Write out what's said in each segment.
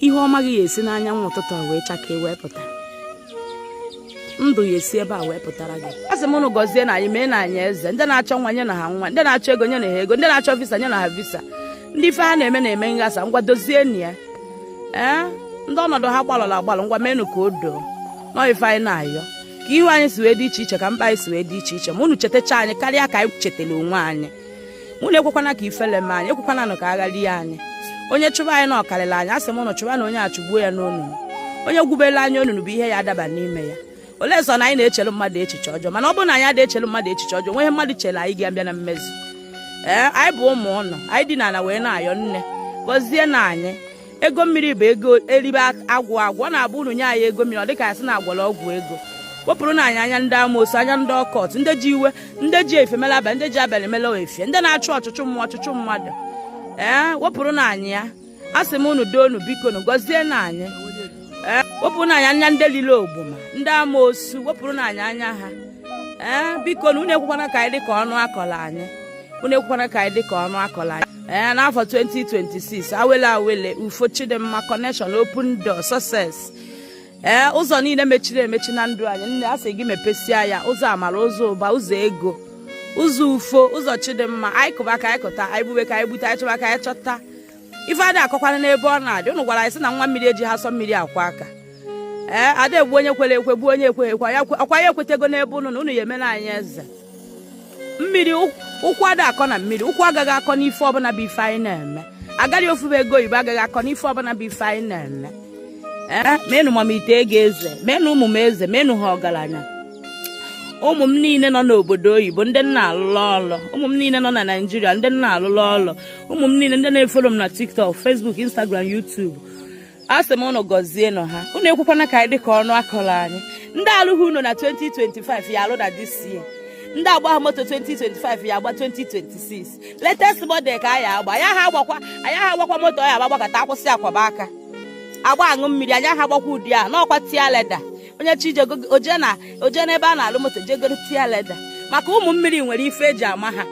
ihe ọma gị ya esi n'anyanwụ ụtụtụ a wee chakee wee pụta ndụ ya esi ebe a wee pụtara gị a sị m ụnụ gọzienụ anyị meenụ anyị eze ndị na-achọ nwa nyenụ ha nwa ndị na-achọ ego nyenụ ha ego ndị na-achọ visa nyenụ ha visa ndị ife ha na-eme na-eme nghasa ngwa dozienụ ya ee ndị ọnọdụ ha gbalụrụ agbalụ ngwa menụ ka o doo nọ ife anyị na-ayọ ka ihu anyị si wee dị iche iche ka mkpa anyị si wee dị iche iche ma unu chetacha anyị karịa ka anyị chetara onwe anyị unu ekwekwana ka ifele mee anyị ekwekwana nụ ka agha rie anyị onye chụba anyị na ọ karịla anyị asị m ụnụ chụbanụ onye a chụgbuo ya n'onunu onye gwubelu anyị onunu bụ ihe ya adaba n'ime ya olee sọ na anyị na-echelu mmadụ echiche ọjọọ mana ọ bụrụ na anyị adị echelu mmadụ echiche ọjọọ nweghị ihe mmadụ chelu anyị ga-abịa na mmezu ee anyị bụ ụmụ ụnụ anyị dina ala wee na-ayọ nne gọzienụ anyị ego mmiri bụ ego eribe agwụ agwụ ọ na-abụ unu nye anyị ego mmiri ọ dịka a sị na a gwọrọ ọgwụ ego wepụrụnụ anyị anya ndị amoosu anya ndị occult ndị ji iwe ndị ji efifie mele abalị ndị ji abalị mele efifie ndị na-achụ ọchụchụ mmụọ ọchụchụ mmadụ ee wepụrụnụ anyị ya a sị m unu doo nu biko nu gọzienụ anyị ee wepụrụnụ anyị anya ndị lile ogboma ndị amoosu wepụrụnụ anyị anya ha ee biko nu unu ekwekwana ka anyị dị ka ọnụ a kọlụ anyị unu ekwekwana ka anyị dị ka ọnụ a kọlụ anyị ee n'afọ 2026 awele awele ufo chidimma connection open door success ee ụzọ niile mechiri emechi na ndụ anyị nne a sị gị mepesia ya ụzọ amara ụzọ ụba ụzọ ego ụzọ ufo ụzọ chidimma anyị kụba ka anyị kụta anyị gbube ka anyị gbute anyị chọba ka anyị chọta ife adị akọkwana n'ebe ọ na-adị ụnụ gwara anyị sị na nwa mmiri ejiha asọ mmiri akwọ aka ee ada egbu onye kwere ekwe gbuo onye ekweghị ekwe ọkwa ya ekwetego n'ebe ụnụ nọ ụnụ ya emena anyị eze mmiri ukwu ada akọ na mmiri ukwu agaghị akọ n'ife ọbụla bụ ife anyị na-eme agaghị ofube ego oyibo agaghị akọ n'ife ọbụla bụ ife anyị na-eme ee menụ m ite ego eze menụ ụmụ m eze menụ ha ọgaranya ụmụ m niile nọ n'obodo oyibo ndị m na-alụlụ ọlụ ụmụ m niile nọ na nigeria ndị m na-alụlụ ọlụ ụmụ m niile ndị na-efolo m na tiktok facebook instagram youtube a sị m ụnụ gọzienụ ha ụnụ ekwekwana ka anyị dị ka ọnụ a kọrọ anyị ndị alụghị ụnọ na 2025 ya alụ na this year ndị agbaha moto 2025 ya agba 2026 latest model ka anyị agba anyị aha agbakwa anyị aha agbakwa moto ya agba gbakata akwụsị akwaba aka agba aṅụ mmiri anyị aha agbakwa ụdị a n'ọkwa tear leather onye chọ ije oje na oje n'ebe a na-alụ moto je goro tear leather maka ụmụ mmiri nwere ife eji ama ha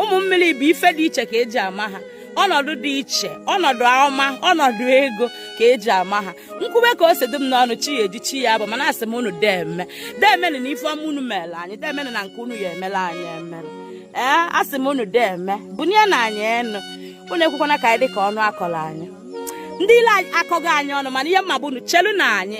ụmụ mmiri bụ ife dị iche ka eji ama ha ọnọdụ dị iche ọnọdụ ọma ọnọdụ ego ka eji ama ha m kwube ka o si dị m n'ọnụ chi ya eji chi ya abọ mana asị m unu deme demenụ na ife ọma unu mere anyị demenụ na nke unu ya emela anyị emere ee asị m unu deme bunienụ anyị enu unu ekwekwana ka anyị dị ka ọnụ a kọrọ anyị ndị ilo akọghị anyị ọnụ mana ihe mma bụ unu chelu na anyị